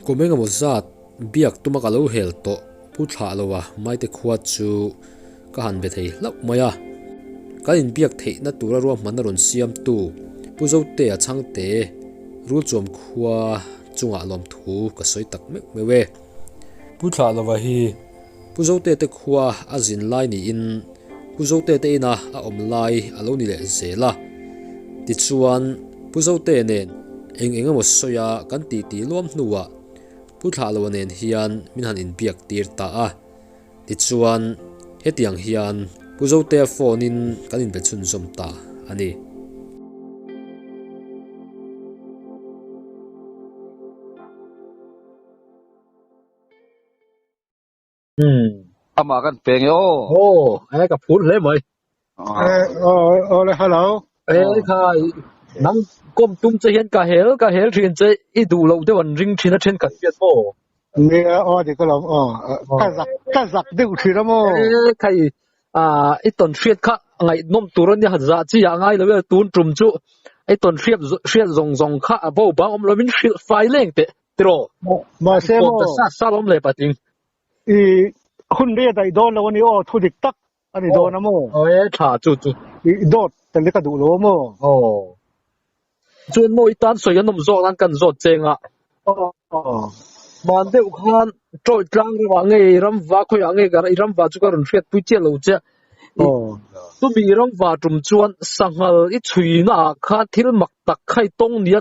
Kum engemaw zat biak tuma ka lo hel tawh pu thlah lo a maite khua chu ka han be thei hlauh mai a, kan in biak theihna tura ruahmanna rawn siamtu pu Zote a changte Rulchuam khua chungah lawmthu ka sawi tak meuh meuh e. Pu Thlahlova hi. Pu Zotete khua a zin lai niin Pu Zotete ina a awm lai a lo ni leh zel a. Tichuan, Pu Zote nen eng eng emaw sawi a kan tih tih luam hnuah Pu Thlah Lo nen hian min han inbiak tir ta a. Tichuan, hetiang hian Pu Zote phone-in kan inbe chhunzawm ta a ni. Hmm. Ama kan peng e oh. Oh, eh ka phur hle mai. Eh, oh, oh le hello. Eh oh. kha nang kom tum che hian ka hel ka hel thin che i du lo de wan ring thina then kan piat mo. Ni a o di ka lom oh. Ka zak ka zak de u thira mo. Eh khai a i ton hriat kha ngai nom tur ni ha za chi ya ngai lo tun tum chu i ton hriat hriat zong zong kha a bo bang om lo min hrilh fai leng te. Tiraw? Mahse maw? Kawmta sat sat awm leh pating. I hunri a daih dawn lo a ni aw, thu dik tak a ni dawn a maw? Aw e, thla chu chu. I dawt tel te ka duh lo a maw? Aw. Chuan maw i tan sawi an awm zawk nan kan zawt cheng a. Aw. Mahn deuh khan Tawih tlang ram ah nge i ramva khawi ah nge i ramva chu ka rawn hriat pui chiah lo che. Aw. Chumi i ramva tum chuan sanghal i chhuina ah khan thil mak tak khai tawng nia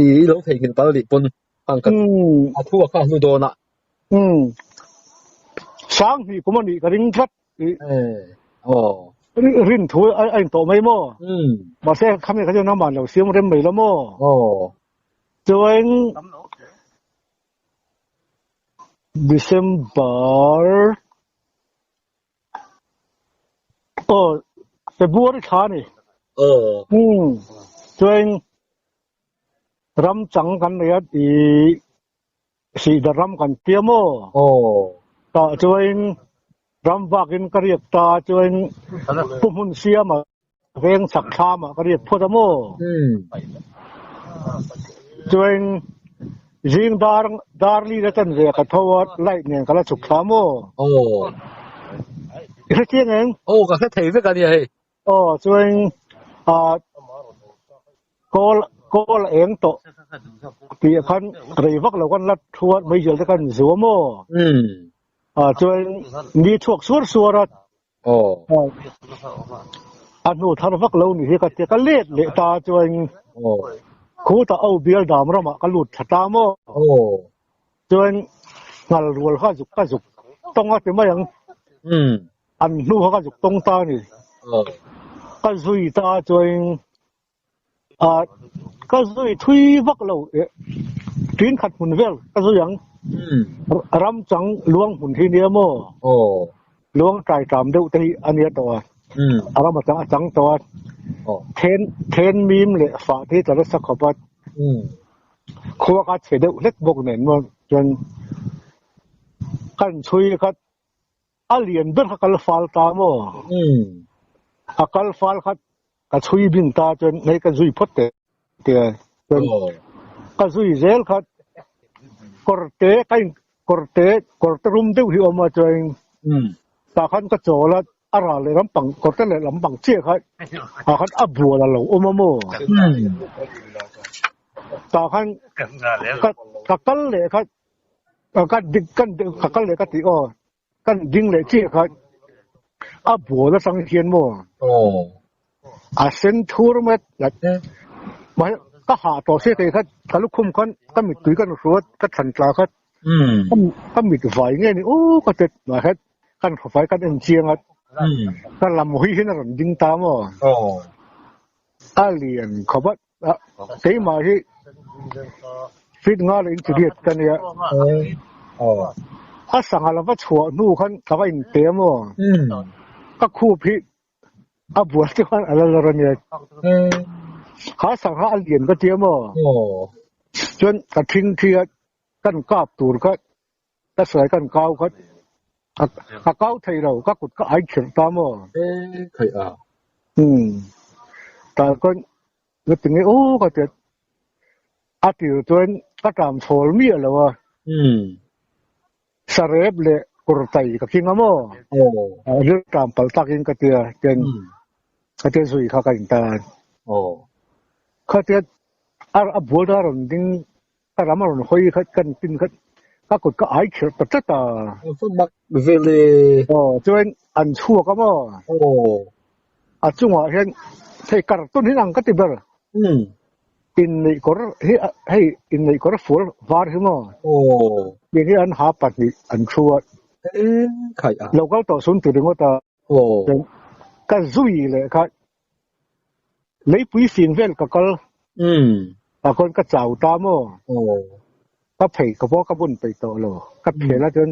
i lo thei nghil tal dih pun ang ka a thu a kha hnu dawn a um sang hni kum ani ka ring tlat i oh rin thu a in tawh mai mo um ma se khami ka jona man lo siam rem mai lo mo oh chuan December oh february tha ni oh hmm chuan ram chang kan nei a ti si da ram kan tia mo oh ta chuan ram vakin ka riak ta chuan pumun siama Veng chak thlam ah ka riat phawt a maw? Chuan zing dar dar li la tan ve a ka tho a, light nen ka la chhuk thla maw? Aw. I hre chiang eng? Aw ka hre thei vek a nia hei. Aw chuan ah call call a eng tawh tih ah khan rei vak lo kan la thu a, meizel te kan zu a maw? Ah chuan mi thuak suar suar a. A hnu thar vak lo ni hi ka tia, ka let leh ta chuan khut a au bial dam ramah ka lut tha ta maw chuan nghal rual kha zuk ka zuk tawng a ti mai ang, an hnu kha ka zuk tawng ta a ni, ka zui ta chuan a ka zui thui vak lo e tui khat hmun vel ka zui ang ram chang luang hmun hi nia mo luang tai tam deuh te hi ania to a ram chang a chang to a then then mim le fa te ta la sakho pat kho ka che deuh let bok nen mo chuan kan chui ka A lian ber kha ka la fal ta maw? Umm. A kal fal kha ka chhui bin ta chuan hei ka zui phawt teh teh a. Chuan ka zui zel kha kawr te ka in kawr te kawr te rum deuh hi awm a chuan tah khan ka chawl a a ral leh lampang kawr te leh lampang chiah kha tah khan a bual a lo awm a maw? Umm. Tah khan ka kal leh kha Kan ding kan ding ka kal leh ka ti aw kan ding leh chi kha a bol atang hian mo oh a sen thur met la te ma ka ha to se te kha ka lu khum khan ka mit tui kan ruat ka than tla kha um ka mit vai nge ni u ka te ma het kan kho vai kan en chiang at ka lam hi hin ram ding ta mo oh alian khobat keimah hi feet nga leh inchiriat ka nia a sangha lova chhuah hnu khan ka va inpe maw ka khup hi a bual te khan ala lar ania ha sangha a lian ka tia maw chuan ka thingthi a kan kap tur kha Ka suai kan kau khat. Ka kau thei lo, ka kut ka ai khirh ta maw. E khai a. Hmm. Tal kawn ka ti nge u ka ti. A tir chuan ka tlam chhawl miah lo a. Hmm. Sarep leh kurtai ka keng a maw. Oh. Rilh tlam pal takin ka ti a. Tian ka ti a zui kha ka intar. Oh. Kha ti a. A bual ta rawn ding Ka ram a rawn hawi khat ka rawn tin khat, ka kut ka ai khelh ta tlat a. Ka va mak vel e. Aw, chuan an chhuak a maw? Aw. A chungah hian hei carton hi ang ka ti ber. Umm. Inneih kawr hi a, hei inneih kawr fual var hi maw? Aw. Kei hi an ha pahnih an thu a. Ka en khai a. Lo kal tawh sun ti ringawt a. Aw. Ka zui leh kha Lei pui sin vel ka kal. Umm. Ka kawn ka chau ta maw. Aw. Ka phei ka pawh ka bun peih tawh lo. Ka hmm. phel a chuan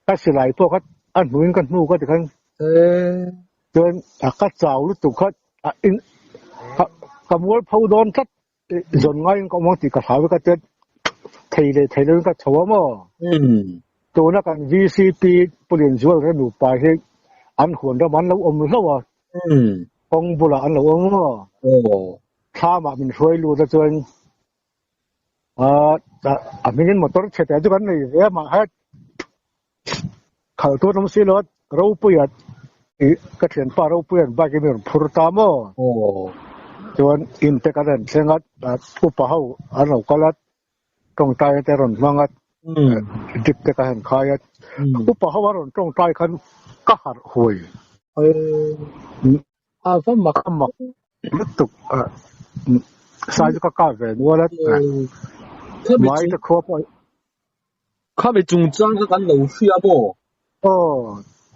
ka silai pawh kha a hnuin ka hnu ka ti khan. Eh. Chuan ka chau lutuk khat in ka mual pho dawn tlat Zawn ngaiin ka awm ang tih ka hlau vek a tet. Thei leh thei loin ka chho a maw? Tuna kan VCP Pulian Zualrel nupa hi an huan ram an lo awm hlo a. Kawng bulah an lo awm a maw? Thlamah min hruai lut achuan a hmingin motor chhe teh chu kan nei ve a, mah hat Khal tur lam silo ropuia ka thian pa ropuia bike in rawn phur ta mo chuan in te kan rawn thleng a upa ho an lo kal a tawngtai te rawn hmang a dip te ka han khai a upa ho a rawn tawngtai khan ka harh huai a va mak a mak lutuk a sai chu ka ka ve nual a mai ta khaw pawh kha mi chung chang ka kan lo hria bo o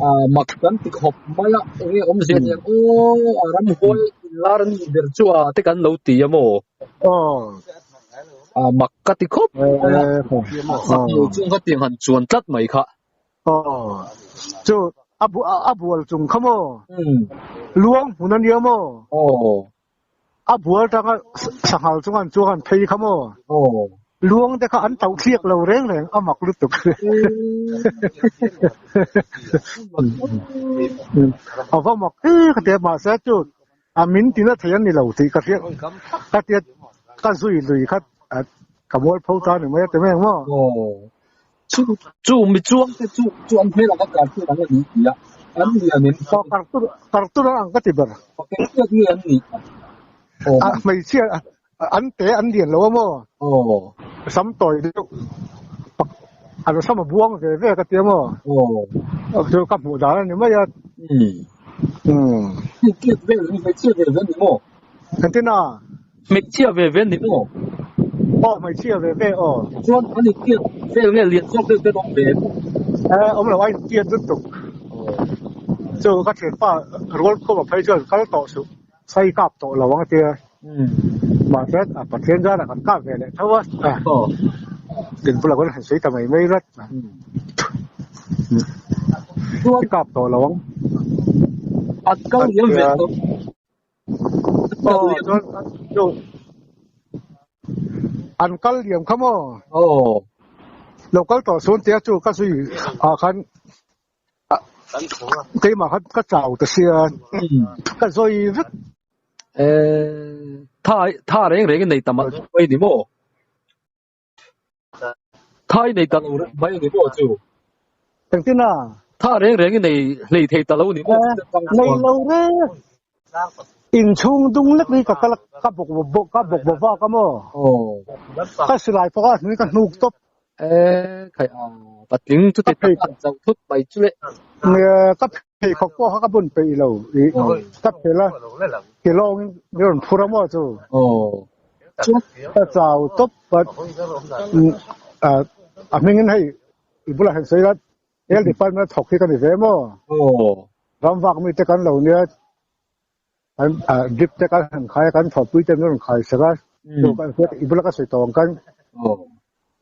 a mak kan ti khop mai a enge om zia ni o a ram hol lar ni ber chu a te kan lo ti a mo o a mak ka ti khop mai a sak lo chu ka ti han chuan tlat mai kha Oh, chu a bu a bual chung kha mo. Hmm. Luang hun ania mo. Oh. A bual tanga sanghal chung an chuang an phei kha mo. Oh. Luang te kha an tau thliak lo reng reng a mak lutuk. Ava mak e kha te ma sa chu A min ti na thei an ni lo tih ka hriat ka tia ka zui lui khat ka mual pho ta ni mai a teme emaw. Chu chu mi chuang te chu chu an hmel anga kar tur ang a ni tia an ni a nen kha. Kar tur kar tur ang ka ti ber. Pakeng tlat nge an ni a hmeichhia. An te an lian lo a maw? Aw. Ka sam tawi deuh. A nu sam a buang ve ve ka ti a maw? Aw. Chu ka hmuh dan a ni mai a. Umm. Hmeichhia ve ve hmeichhia ve ve a ni maw? Kan ti na. Hmeichhia ve ve a ni maw? Aw hmeichhia ve ve aw. Chuan an intiat vel nge lian zawk deuh te an awm ve? E awm lo a intiat lutuk. Aw. Chu ka thianpa rual khawp a phei chuan kal tawh suh. Sai kap tawh lo ang tia. Mah khian a Pathian zan a kan kap ve leh tho a. Din bulah khuan a han sawi ta mai mai rat. Sai kap tawh lo ang. At kal hian ve tawh. An kal liam kha maw? Lo kal tawh sun tia chu ka zui ah khan keimah khan ka chau ta sia ka zoi vek e tha tha reng reng nei tam mai ni mo thai nei ta lo mai ni mo chu tengtina tha reng reng nei hlei thei ta lo ni mo nei lo re In chhung dung lek hi ka kalak ka bawk bawk ka bawk bawk vak a maw? Ka silai pawh a hnui ka hnuk tawp. Eh, khai a, ka tling chu ti tak tak zauh thut mai chu le. Ka pheikhawk pawh kha ka bun peih lo i ka fel a, ti lawngin i rawn phur a maw chu? Chuan ka chau tawp a, a hmingin hei i bulah hian sawi lat Health department thawk hi ka ni ve maw? Oo. Ram vak mi te kan lo nia. Kan drip te kan han khai kan thawk pui te min ron khai saka. Chu kan set i bulaka soi tawng kan. Oo.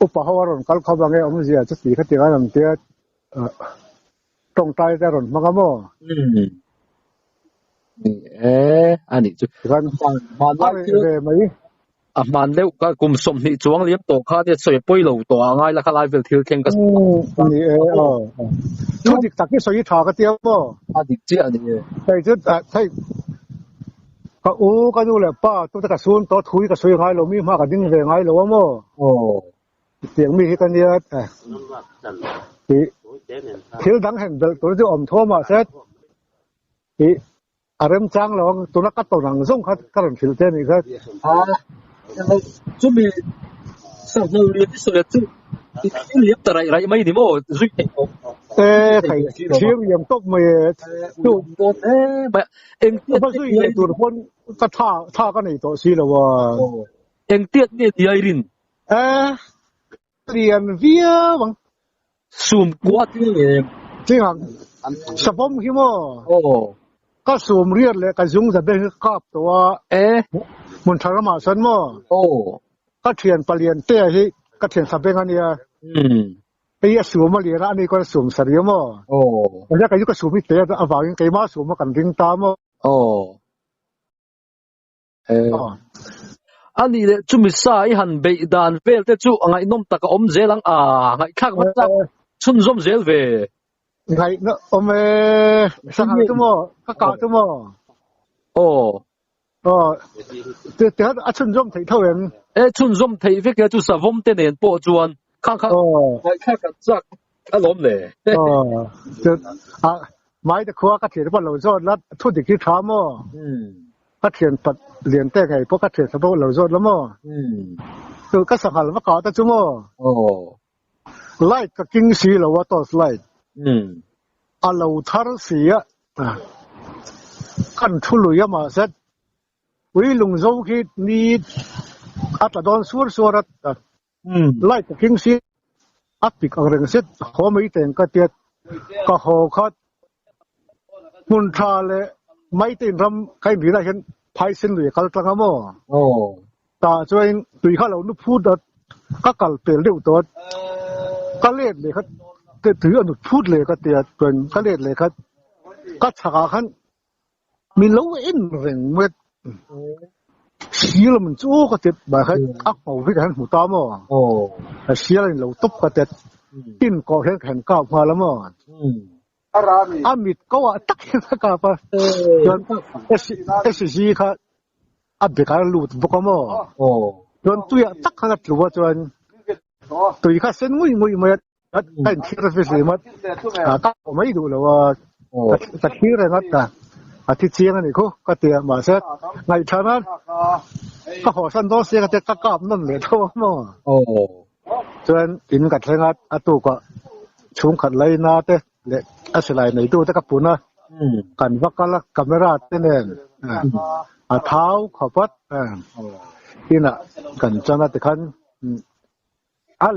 Upa ho ron kal kho bange om zia chu ti kha ti kan ang tia. Tong tai te ron hmanga maw? Hmm. Ni e ani chu. Kan ma ma ve mai. a hman deuh ka kum sawmhnih chuang liam tawh khan i a sawi pawih lo tawh a ngai lakah laivel thil thleng ka sawi a ni e aw thu dik tak hi sawi hi tha ka tia maw a dik chiah a ni e hei chu thei ka u ka nu leh pa tu te ka sun tawh thu hi ka sawi ngai lo mi hma ka ding ve ngai lo a maw aw tiang mi hi ka nia thil dang hen bel tur chu awm thaw mah se A remchang lo ang, tuna ka tawn ang zawng kha ka rawn hrilh te anih kha. Aaa, chumi sawm hnu leh Tisaw leh chu i liam ta raih raih mai ni maw, zui theih tawh e thei thiam liam tawp mai e, chu dawn hle mai a, engtiat nge ti ai rin, ka tha tha ka nei tawh si lo a, engtiat nge ti ai rin, aaa. lian viau ang sum kuat hi em ting ang sabom hi mo oh ka sum riat le ka zung za be hi kap to a e mun tharama san mo oh ka thian palian te hi ka thian sa beng ania um ei a sum a lian a ni kon sum sa riam mo oh ja ka ju ka sum hi te avangin keima sum kan ding ta mo oh a nih leh chumi sa i han beih dan vel te chu a ngaihnawm tak a awm zel ang a ngaihthlak vat tak chhunzawm zel ve ngaihnawm awm e sangha chu maw ka ka chu maw aw aw te te a chhunzawm thei tho em e chhunzawm thei vek chu savawm te nen pawh chuan khang khang ngaihthlak kan chak a lawm le a mai te khuwa ka thian pa lo zawt la thu dik hi tha mo ka thian pat lian te ngai po ka thian sa bo lo zawt la mo tu ka sangal va ka ta chu mo light ka king si lo wa torch light a lo thar si a kan thu lui ama set ui lung zo khi ni atla don sur sur at Light ka keng si a pik ang reng set haw mai teng ka tiat ka haw khat hmun tha le mai te in ram ka in rina hian phai sen lui kal tlang amo ta chuan tui kha lo nu phu dat ka kal pel deuh tawt ka let leh khat te tui a nut phut le ka tiat chuan ka let leh khat ka chhak ah khan min lo en reng met sialam chu ka tet ba khai ak pau vit han mu ta mo a sialin lo top ka tet tin ko hen khen ka ma la mo arami amit ko a tak hen ka pa chuan a si ji kha a be ka lut bok mo chuan tuya tak kha tluwa chuan tui kha sen ngui ngui mai Kain thir a fisi mat, ka o mai du lo a, ka thir e ngat ta, a thi chiang ani khu, ka tia ma se, ngai thana, ka ho san do se ka te ka kap non le tho mo. Chuan in ka thlenga a tu ka chung khat lai na te le a silai nei tu te ka puna kan vakala camera te nen a thau khopat ina kan chana tikhan al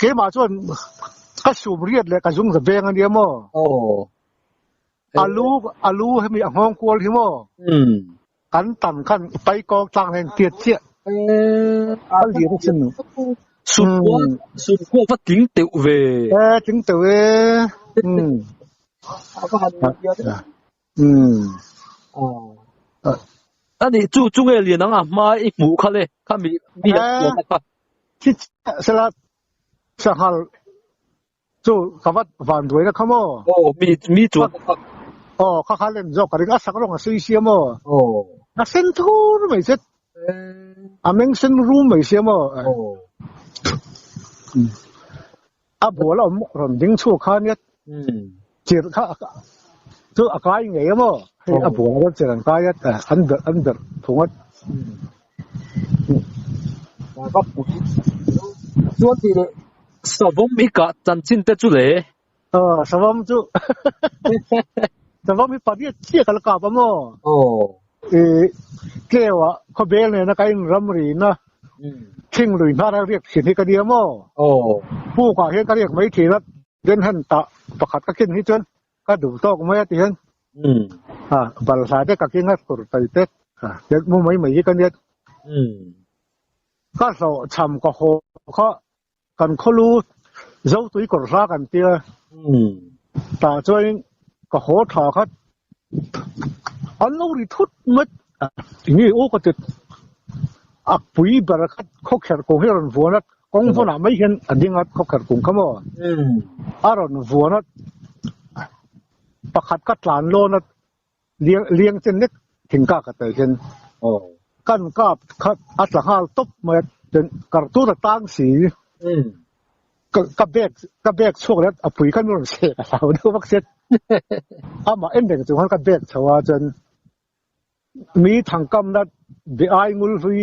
Keimah chuan ka sum riat leh ka zung za beng ania maw? Oh. Alu, alu hemi a nghawng kual hi maw? Hmm. Kan tan khan i pai kawng tlang len tiat chiah. Eh, a lir chin. Sum kual, hmm. sum kual va tling teuh ve. Eh, tling teuh e. Hmm. Ani chu chu nge lian anga hma i hmuh kha le kha mi mi an hmuh ka kha. Khi sela sanghal chu ka vat van duaina kha maw. Aw mi mi chuan ka kha. Aw kha kha lem zawk ka ring a sak rawng a sei sia maw. Aw. A sen thur mai che. Aw. A meng sen rum mai sia maw. Aw. A bul a awm rawn ding chhuak kha nia chirh kha chu a kai ngei a maw hei a bul rawn chirh an kai a an ber an ber thung a chuan ti leh savam hi kah chanchin te chu le a savam chu savam hi pariat chiah kal kap a maw I tleu ah khaw bel nena ka in ram ri na thing lui hna rang riak thin hi ka nia maw puk ah hian ka riak mai thin a then han tah pakhat ka ken hi chuan ka duh tawk mai a ti hian balhla te ka keng a tur tai te tel mu mai mai hi ka nia ka hlawh chham ka haw kha kan khaw lu zo tui kawr hla kan tia tah chuan ka haw tha khat an lo ri thut mat nge o ka tet a pui ber khat khaw kher kawng hi ron vuan a kawng vun ah mai hian a ding a khaw kher kung kha maw a ron vuan a pakhat ka tlan lawn a Liang liang chen lek thing kak a tel hian aw kan kap khat a tla nghal tawp mai a chen kar tur a tang si um ka ka bag ka bag chhuak leh a pui khan rawn seh ka hlau deuh vak set ama en reng chu khan ka bag chho a chen mi thangkam na be ai ngul hlui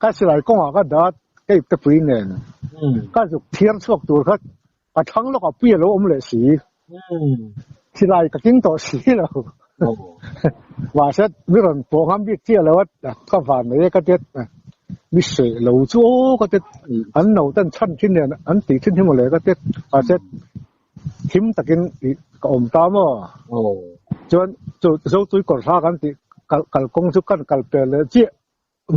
Ka silai kawngah ka dat keip te pui nen ka zuk thiam chhuak tur kha ka thlang lawk a pui a lo awm leh si. Silai ka king tawh si lo. Mahse miron pawh ngam bik chiah lo a ka van mai e ka tet mi seh lo chu aw ka tet an no ten chhan thin nen an tih thin hi mawle ka tet mahse thim takin ka awm ta maw. Chuan chu zotui kawr hla kan tih kalkawng chu kan kal pel leh chiah.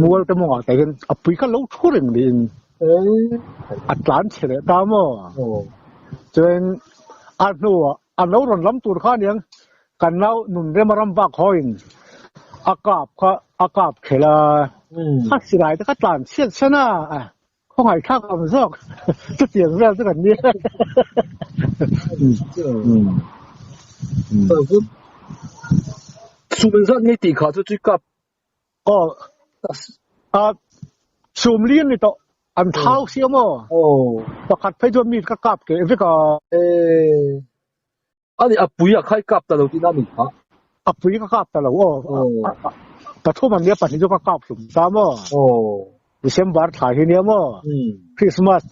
mual te mawngah te hian a pui kha lo thu reng niin a tlan chhe leh ta maw chuan a hnuah a lo rawn lam tur kha niang kan nau nun rema ram vak hawiin a kap kha a kap khel a kha silai te kha tlan chiat chian a khawngaih thlak ang zawk chutiang vel chu kan ni chu min zat mai tih kha chu chu kap Oh, ah, sum li ni to, an thau si amo. Oh. Pakhat phai duam ni ka kap ke, evik a. Eh. Ani apui a khai kap ta lo ti na ni ha. Apui ka kap ta lo, oh. Oh. Pathum an nia pahnih chu ka kap hlum ta mo. Oh. December thlai hi nia mo. Hmm. Christmas.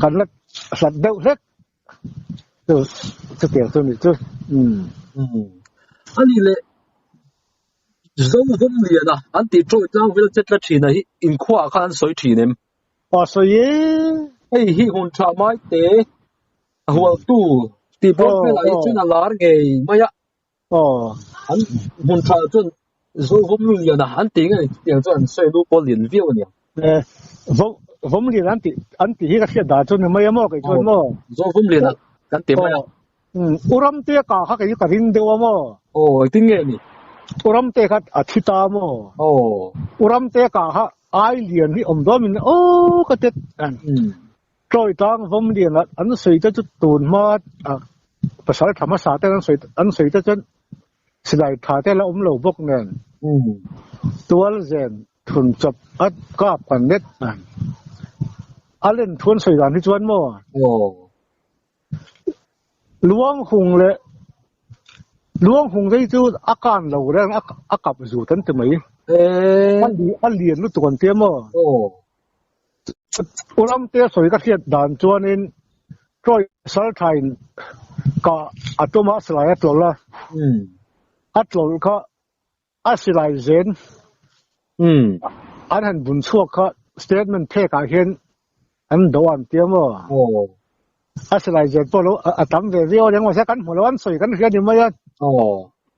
Kan la hlat deuh hlet. chu chu tiang chu ni chu um ani le zo hum lian a an ti tawh tlang vel chetla thina hi in khuwa kha an soi thin em pa soi ye ei hi hun tha mai te hual tu ti blok vel ai chuna lar ngei maya An hmun thla chuan zo vawmlu liana an tih nge tih ang chuan sawilu pawh lian viau a ni ang. Vawm lian an tih an tih hi ka hriat dan chu ni mai a maw kei chuan maw? Zo vawm liana kan tih mai a. U Ramte ka kha kei chu ka ring deuh a maw? Aw tin nge ni? U Ramte kha a thi ta maw? Aw. U Ramte ka kha ai lian hi awm duamin aw ka tet. Tlawih tang vawmlian ah an sawi te chu tun hma ah pasal tha hmasa ten an sawi te chuan silai tha te la awm lo bawk nen tual zen thun chawp a kap kan let a. A len thu an sawi dan hi chuan maw Luanghung leh Luanghung dei chu a kan lo reng a kap zut an ti mai. A lian lutuk an ti maw. Ulamte sawi ka hriat dan chuanin Troy Salthain ka a tuma silai a tlawl a. A tlawl kha a silai zen an han bun chhuak kha statement phek ah hian an doh an tia maw? A silai zen pawh a tam ve viau reng maw se kan hmu lo an sawi kan hria ni mai a.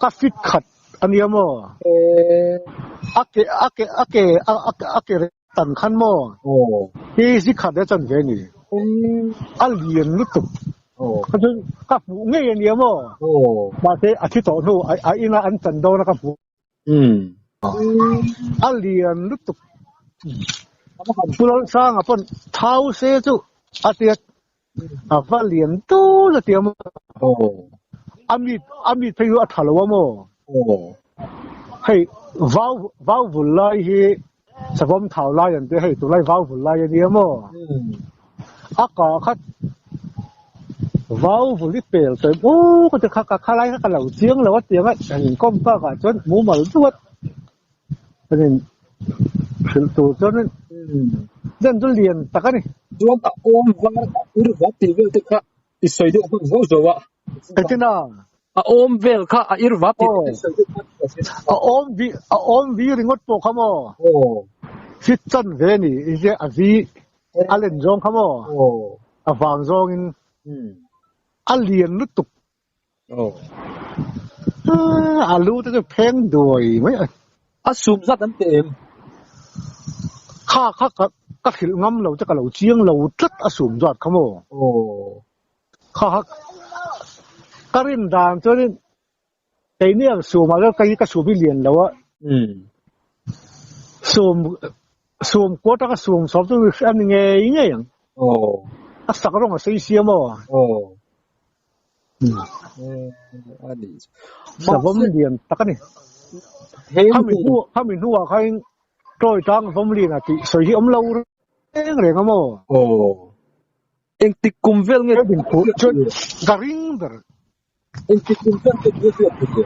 Ka fit khat a nia maw? Aw. A ke reng tan khan maw? Aw. Hi zi khat a chan ve ni? Aw. A lian lutuk. Aw. Kha chuan ka hmuh ngei a nia maw? Aw. Mahse a thi tawh hnu a ina an chan dawn a ka hmu. Umm. Aw. A lian lutuk. Ka va han pu lalsanga pawn thau se chu a tia a va lian tu la ti amo o ami ami phei hu a thalo amo o hei vau vau vul lai hi savom thau lai an te hei tu lai vau vul lai ani amo hmm. a ka khat vau vul i pel toim u ka te kha ka khalai ka lo chiang lo a tiang a chanin kom pa ka chon mu mal duat hrilh tur chuan in zen chu lian tak a ni chuan a awm var a ur var tih vel te kha i sawi deuh hman zo zo a ka tin a a awm vel kha a ir var tih vel te sawi deuh hman ka tin a awm vi a awm vi ringawt pawh kha maw aw fit chan ve ni i zia a vi a len zawng kha maw aw a vang zawngin a lian lutuk Oh. Ah, alu te chu pheng duai mai a. A sum zat an te em. Kha kha ka ka thil ngam lo te ka lo chiang lo tlat a sum zat kha mo. Oh. Kha kha ka rin dan chu rin kei ni ang sum ala kai ka sum i lian lo a. Hmm. Sum sum ko ta ka sum som tu an nge nge ang. Oh. A sak rong a sei siam mo. Oh. savam lian tak a ni khami hnu khami hnu ah khain toy tang vam lian ati sawi hi omlo reng reng amo oh eng tik kum vel nge din phu chuan ka ring ber eng tik kum vel nge din phu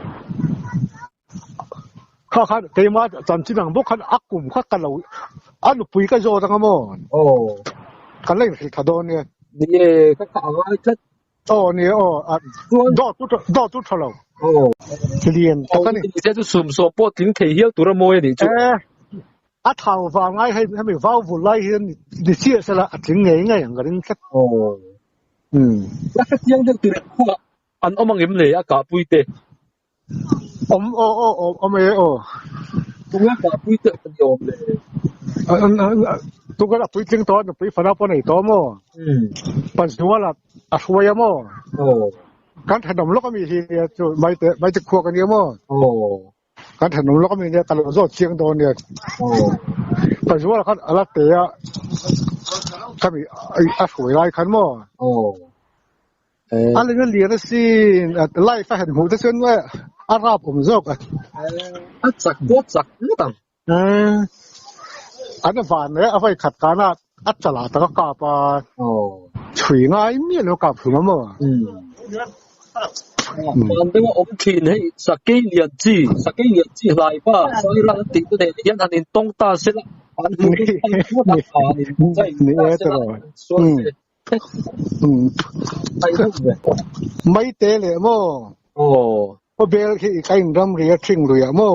Kha khan keima chan chin ang bawk khan a kum kha ka lo a nupui ka zawt ang amaw aw ka la inhrih tha dawn nge ni nge ka kha a ngai tlat aw ni aw dawt tu dawt tu tha lo aw lian ta ka ni ni se chu sum so po tling thei hial tura mawi a ni chu eh a thau va ngai hei hemi vau vul lai hian ni chiah sela a tling ngei ngei ang ka ring tlat aw um la ka tiang deuh tur khuwa an omang em le a ka puite Awm aw aw aw awm e aw. Tunga ka pui teh ka ni awm le. Tunga ka pui tling tawh nupui fana pawh nei tawh awm aw. Pazuala a hruai awm aw. Kan thahnawm lawk ami hi nia chu Maithe khua ka ni awm aw. Kan thahnawm lawk ami nia ka lo zawt chiang dawn nia. Pazuala khan a la teh a kami a hruai lai khan maw. a leng a lian a sin life a han hmuh te chuan a rap awm zawk a a chak pawh chak ngawt ang an van leh a vawi khat kan a a chala tak a kap a chhui ngai miah lo kap thung maw van deuh a awm thin hei sakei lian chi sakei lian chi hlai pa sai ral tih te nen hian an in tawng ta se la an hmuh an hmuh a ni e tawh lo mai te le mo o o bel khi kai ram ri a thing lui a mo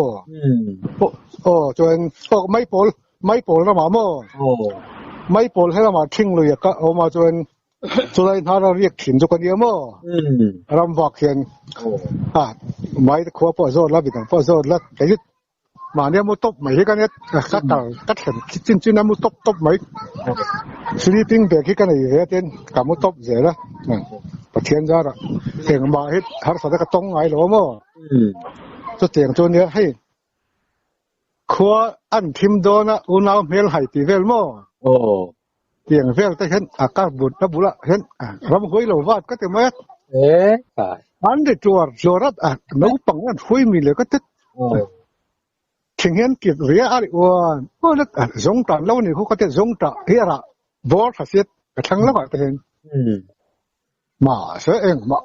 o chuan o mai pol mai pol ram a mo o mai pol he ram a thing lui a ka o ma chuan chulai na ra riak thin chu ka ni a mo ram vak hian a mai kho po zo la bi po zo la mahni a mu tawp mai hi ka net ka ka tar ka thlen chin chin a mu tawp tawp mai sleeping bag hi ka nei ve atin ka mu tawp zel a pathian zara engmah hi harsa te ka tawng ngai lo maw chu tiang chu nia hei khua an thim dawn a unau hmel hai ti vel maw Tiang vel te hian a kar bun a bula hian ram huai lo vat ka ti mai a. E kai. An ri tuar zuarat a no pang an hui mi le ka tet. Thing hian kit ria a ri uan. O let a zong tan lo ni hu ka te zong ta hi ara bor thasiat ka thlang lo a te hian. Ma se engmah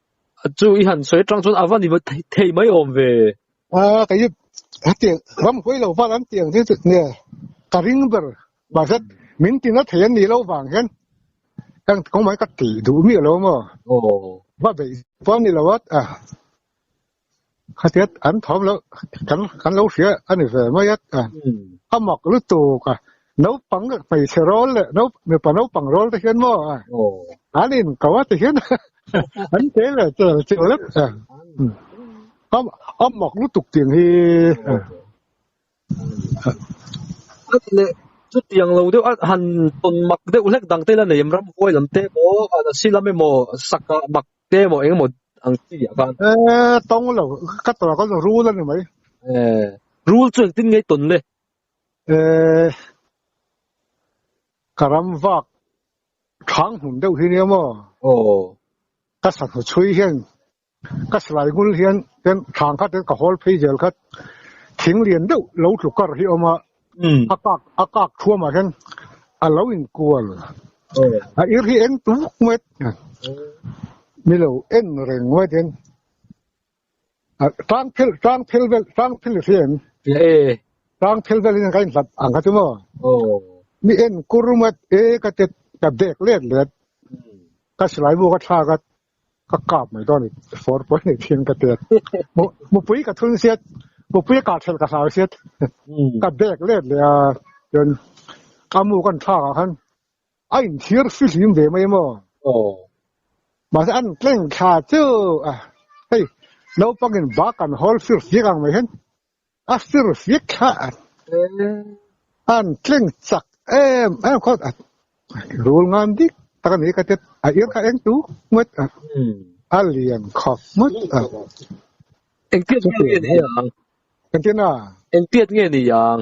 chu i han sawi atang chuan a va ni thei mai awm ve a kei hi a tiang ram hawi lo vat an tiang chu nge ka ring ber mah zet min ti na thei an nih lo vang hian kan kawng mah ka ti duh miah lo maw aw va beih pawh a ni lo a Khatia an thawm lo kan kan lo hria ani ve mai at a a mak lu tu ka no pang pai se rol le no me pa no pang rol te hian mo a an in ko a te hian an te le te che le a am am mak lu tuk ting hi le chu tiang lo deuh han ton mak deuh hlek dang te la nei ram huai lam te mo a silame mo saka mak te emaw engemaw ang chi ah khan e tong lo ka tora ka rule ani mai e rule chu engtin ngei ton le e karam vak thang hun deuh hi nia mo o ka sa hnu chui hian ka slai ngul hian ten thang khat ka hol phei zel khat thing lian deuh lo tlukar hi oma a kak a kak thuam ah hian a lo in kual a ir hi eng tum vuk mai a mi lo en reng mai te a tang phel tang phel vel tang phel si em e tang phel vel in ka in hlat ang ka chu mo mi en kur mat e ka te ka dek let let ka silai bu ka thlak a ka kap mai dawn i for pawh nei thin ka tel mupui ka thun siat mupui ka thel ka hlau siat ka bek let le a ken ka mu kan tha ka han ai thir fi hlim ve mai mo o ma se an tleng tha chu a hei lo pangin ba kan hol fir fi kang mai hen a fir fik kha an tleng chak em em khaw a rul ngan dik tak a ni ka tet a ir kha eng tu ngat a a lian khawp ngat a eng piat nge ni ang eng piat nge ni ang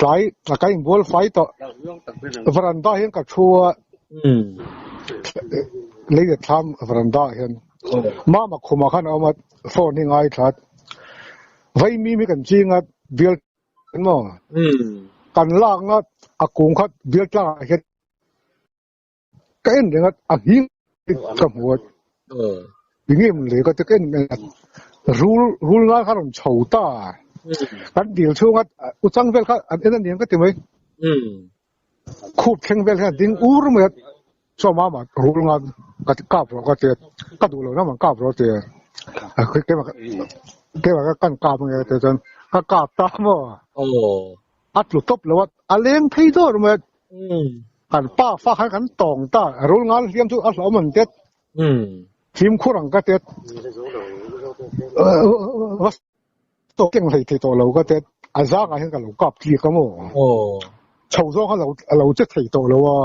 Tlai a ka in bual fai tawh varanda hian ka thu a lei let thlam varanda hian mama khum ah khan a awm a phone hi ngai thlat vai mim hi kan ching a bial mo kan lak nga a kung khat bial tlang ah hian ka en reng at a hing ka muat dinge mun le ka te ken me rul rul ngal khan chho ta kan dil chung at u chang vel kha an en niam ka ti mai khup kheng vel khan ding ur mai at cho ma ma rul ngal ka ka pro ka te ka du lo na man ka pro te a ke ma ke ma kan ka ma te chan ka ka ta mo A tlu tawp lo a, a leng phei dawr mai a. Kan pa fa khan kan tawng ta, rul ngal hliam chu a hlauhawm an tet. Fimkhur ang ka tet. Va saw keng hlei thei tawh lo ka tet. A zangah hian ka lo kap tlik a maw. Chho zawng kha a lo che thei tawh lo a.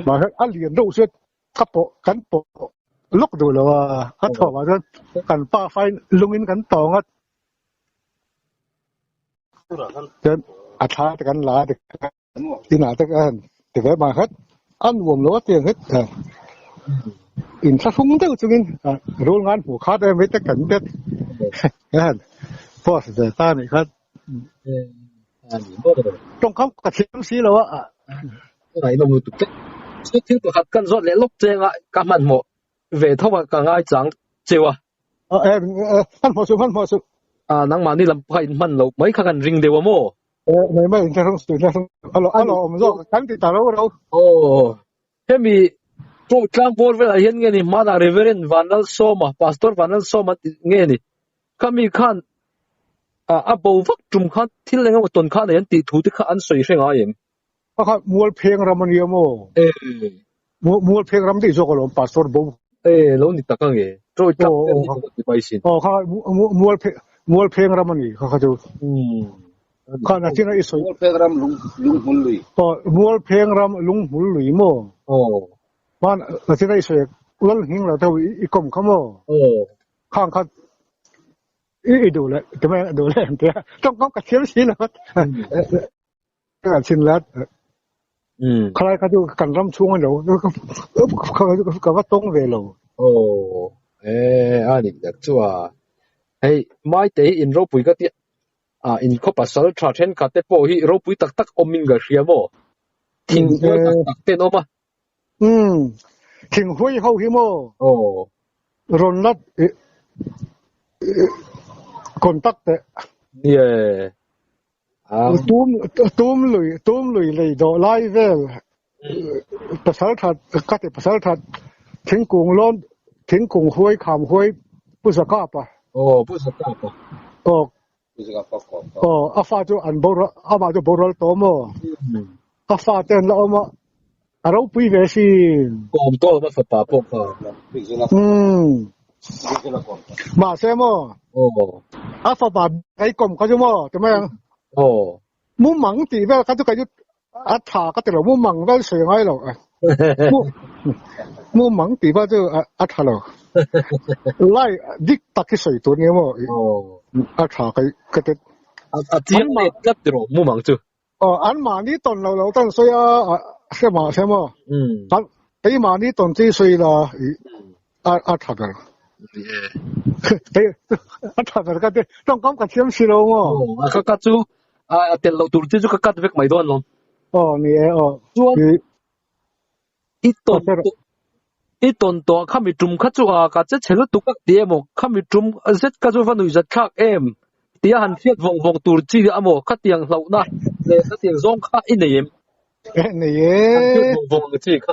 Mahse, a lian deuh se ka pawh, kan pawh lawk duh lo a. Ka thawhvah chuan kan pa fain lungin kan tawng a. a thla te kan la te ina te kan te ve ma khat an wom lo te het in sa sung deuh chungin rul ngan hmu kha te mi te kan te han post de ta ni khat tong kam ka thim si lo a ai lo mu tu te chu thil pakhat kan zot le lok chenga ka man mo Ve tho a ka ngai chang cheu a. Ah eh hman hmawh suh hman hmawh suh. Ah nangmah ni lam pakhat in hman loh mai kha kan ring deuh a maw? Eh mei mei inhla hrung suh inhla hrung suh a lawh awm zawk kan ti ta roro. Aww hemi chu tlangpawr velah hian nge ni hmanah Reverend Vanlal Sawma Pastor Vanlal Sawma tih nge ni khami khan a bo vak tum khan thil engemaw tawn khan nei an tih thu te kha an sawi hre ngai em? Pakhat mual pheng ram ania maw? Ee. Mual, mual pheng ram tih zawk alawm pastor bo. Ee, lo ni tak ange. Troy tak oh, oh, oh. ti pai sin. Oh, kha mual pheng mual pheng ram ani kha kha tu. Hmm. Kha na tina i soi. Mual pheng ram lung lung hul lui. Oh, mual pheng ram lung hul lui mo. Oh. Man na tina i soi. Lal hing la tau i kom kha mo. Oh. Kha kha i i do le. Tama do le. Tong kom ka thiam si lo. a chin lat um khalai kha chu kan ram chhung a lo ka va tawng ve lo oh e a ni tak chu a hei mai te in ropui ka tia a in kho pasal tha then kha te pawh hi ropui tak tak awmin ka hria maw thing tak tak ten awma Umm, thing huai ho hi maw? Aw. Rawn la contact teh. Yeah. Ang. Tum, tum lui, tum lui lei dawh lai vel. Pasal that, ka te pasal that, thingkung lawm, thingkung huai, kham huai, pu zakap a. Aw, pu zakap a. Aw. Aw, a fa chu an borual, amah chu borual tawh maw? A fa te an la awm a, a ropui ve si. Kawm tawh na fapa pawh kha. Umm, mahse maw? Aw. A fapa ei kawm kha chu maw, ti mai ang? Aw. Mumang tih vel kha chu kei chu a tha ka ti lo mu mang vel sawi ngai lo mu mu mang ti ba chu a tha lo lai dik taki sawi tur ni mo a tha kai ka te a chiang ma tlat ti ro mu mang chu o an ma ni ton lo lo tan sawi a se ma se mo kan ei ma ni ton chi sawi la a a tha ber ni e hei a tha ber ka te tawngkam ka thiam si lo ngo ka ka chu a tel lo tur te chu ka cut vek mai don lo o ni e o chuan i ton i ton to kha mi tum kha chu a ka che che lutuk tak ti emaw kha mi tum zet ka chu va nui zat thlak em tia han fiat vong vong tur chi amaw kha tiang hlauhna le kha tiang zawng kha i nei em nei e vong vong chi kha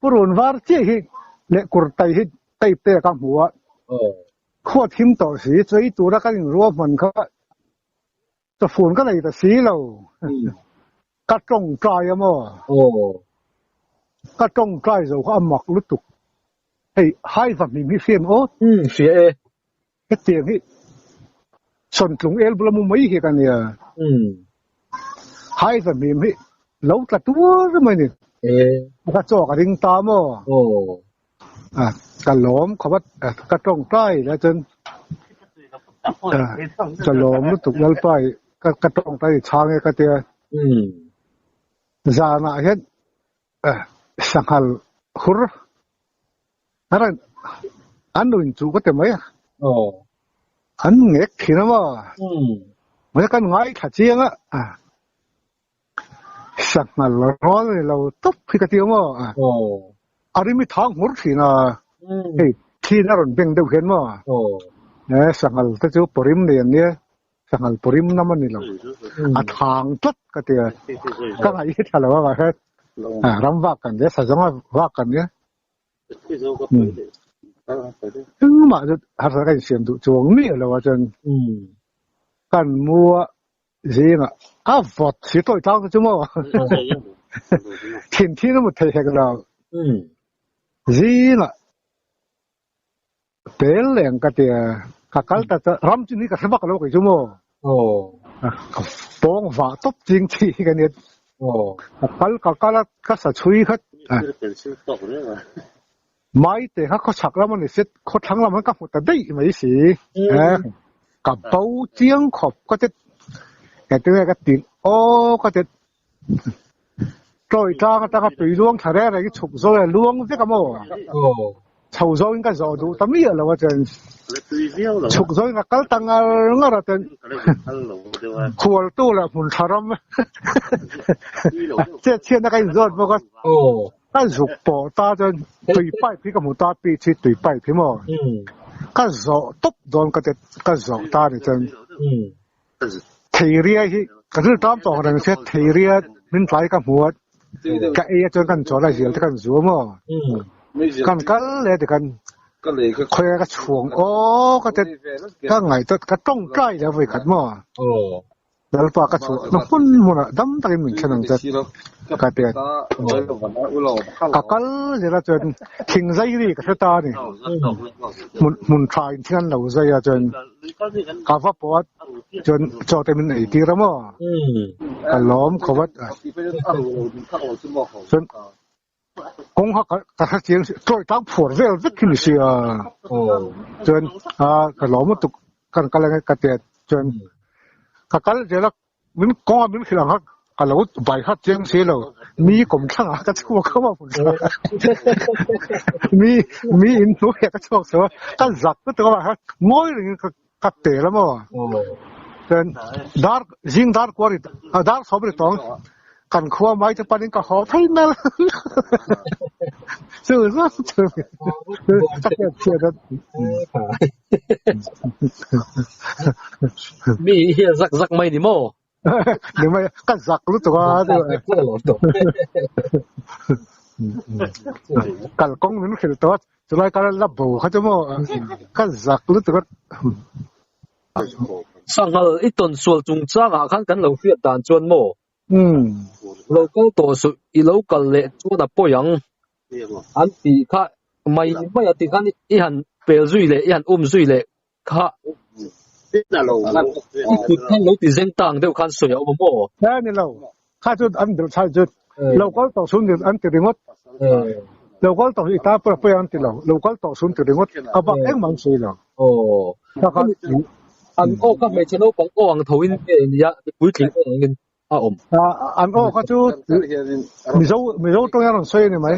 Purun var chiah hi leh kurtai hi type te ka hmu a, khuat him tawh si, chu hei tura kan in ruah hman kha chawfun ka nei ta si lo, ka tawng try a maw, ka tawng try zo kha a mak lutuk, hei haiva hming hi fiam aw. Hum, fiah e. Hetiang hi Chawnthlung el bula mu mai hi ka nia. Hmm. Hai za hmim hi lo tla tuar mai ni. E. Ka chaw ka ring ta mo. Oh. À, ka lom khabat à, ka tong tai la chen. À, ka lom lu tuk lal pai ka ka tong tai chang e ka tia. Hmm. Zana hian Eh, sanghal hur. Hara, an lo inchu ka te mai a. Oh. An ngek thin ama. Hmm. Mai kan ngai tha chiang a. Ah. Sanghal rol ni lo top khi ka ti ama. Oh. Arimi thang hur thin a. Hmm. Hey, thin aron beng deuh hian ma. Oh. Eh, sanghal te chu porim ni an nia. ka ngal pu rim lam ani lo a thang tlat ka tia ka ngai hi thalo a he a ram vak kan le sa zonga vak kan le eng ma chu har sa kan siam du chuang mi lo a chen kan mua zinga a vot si toi tang chu mo thin thin mu thei hek lo zinga Tel leh ang ka tia, ka kal ta ta, ram chin hi ka hre bak lo kei chu mo. Oh. Pawng va top ching chi ka ni. Oh. Ka kal ka kala ka sa chui khat. Pencil tok re ma. Mai te kha kho chak lam ani set kho thlang lam ka hmu ta dei mai si. Eh. Ka bo chiang khop ka tet. Ka tia ka tin o ka tet. Tlawi tlang atanga tui luang thla reng rengin chhuk zawh hian luang vek a maw? Chho zawngin ka zawh duh ta miah lo a chen. Chhuk zawngin ka kal ta ngar ngar a chen. Khualtu leh hmun thla ram chetchhiatna ka inzawt bawk a. Ka zuk pawh ta chuan tui pipe hi ka hmu ta, pitch hi tui pipe hi maw? Ka zawh tawp dawn ka tet ka zawh ta a ni chen. Theiria hi ka zul tawng tawng reng se theiria min tlai ka hmu a ka ei a chuan kan chawl a hial te kan zuam aw kan kal le ti kan khoi ka chuang o ka te ka ngai tot ka tawng tlai le voi khat mo lalpa ka chu na hun mun a dam takin min thlen ang te ka te ka kal le la chuan thing zai ri ka ta ni mun mun thain thlan lo zai a chuan ka va puat chuan chaw te min ei tir amaw ka lawm khawvat chuan kawng ha ka ka hre chiang chawi tlang phuar vel vek hi ni si a chuan a ka lawm lutuk ka ka la nge ka tia chuan ka kal zel a Min kawng a min hrilh ang kha ka lo bai khat chiang si lo, mi kawm thlangah ka chhuak kho a hun thla a, mi mi in hnuai ah ka chhuak chho a, ka zak lutuk a mah kha ngawi rengin ka ka tel a maw, chuan dar zing dar kuah ri ah dar sawm ri tawng kan khua mai te panin ka haw phei nal chu zawk chu ka hriat chiah dat. mi hi a zak zak mai ni maw? ni mai ka zak lutuk a kal kong min khil tawt chulai kal la bo kha chu maw ka zak lutuk a sangal i ton sual chung changa khan kan lo hriat dan chuan maw lo kal tawh suh i lo kal leh chuan a pawi ang an tih kha mai mai a ti khan i han pel zui leh i han um zui leh kha i kut khan lo ti zeng tang deuh khan sawi a awm maw a ni lo kha chu an bel chhan chu lo kal tawh sum ni an ti ringawt lo kal tawh hi ta pawh pawh an ti lo lo kal tawh sum ti ringawt a bak engmah an sawi lo aw an awk a hmeichhe naupang awk ang tho in nge nia mipuitling awk ang in. a awm. An awk a chu Mizo Mizo tawngin a rawn sawi a ni mai.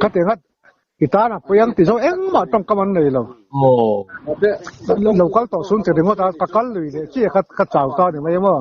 Khati nghat i tan a puiang tih zawk engmah tawngkam an nei lo. Lo kal tawh sung chi ringawt a ka kal lui leh chiah kha ka chau ta a ni mai emaw.